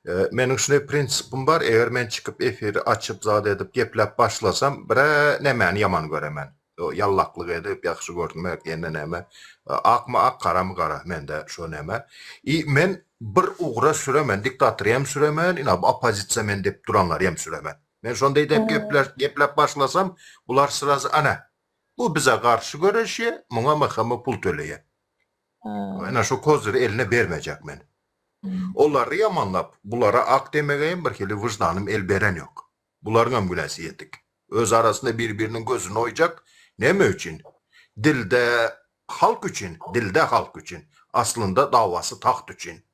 Meniň şunday prinsipim bar, eger men çykyp efiri açyp zat edip gepläp başlasam bire nemäni ýaman göremen. Ýallaklyk edip ýagşy görünmek ýene neme. Akmy ak garamy gara mende şo neme. I men bir ugra süremen diktatory hem süremen ina bu opozisiýa men dep duranlary hem süremen. Men şonday dep gepläp başlasam bular srazy ana bu bize garşy göreşýe muňa MHM pul töleýe. Ene şu koziri eline bermejek men. Olary ýamanlap, bulara ak demegeýem birhili wyždanym el berenýok. Bularyňam günäsi ýetik. Öz arasynda bir-biriniň gözüni oýjak, näme üçin? Dilde halk üçin, dilde halk üçin. Aslynda dawasy tagt üçin.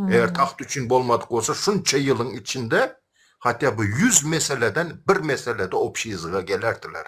Eger tagt üçin bolmadyk bolsa, şunça ýylyň içinde hatýa bu ýüz meseleden bir meselede obşiýzga gelerdiler.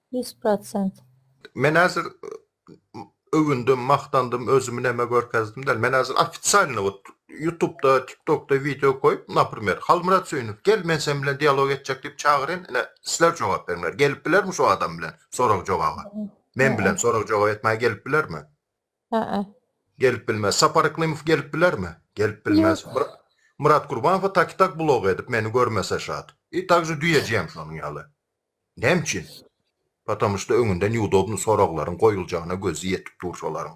Ýüz prosent. Men häzir öwündim, magtandym, özümi näme görkezdim däl. Men häzir ofitsialny wot ýutubda, tiktokda wideo goýup, naprimer, Halmyrat Söýünow, gel, men sen bilen dialog etjek diýip çagyryn, ine, sizler jogap beriňler. Gelip bilermi şu adam bilen sorag-jogaba? Men bilen sorag-jogap etmäge gelip bilermi? Hä-ä. Gelip bilmez. Sapar Yklymow gelip bilermi? Gelip bilmez. Ýok. Myrat Gurbanowa tak-i-tak blog edip, meni görmese şat. I tak je düýeji hem şonuň ýaly. Näme üçin? Potomuşda öňünden ýudobny soraglaryň goýuljagyna gözi ýetip dur şolaryň.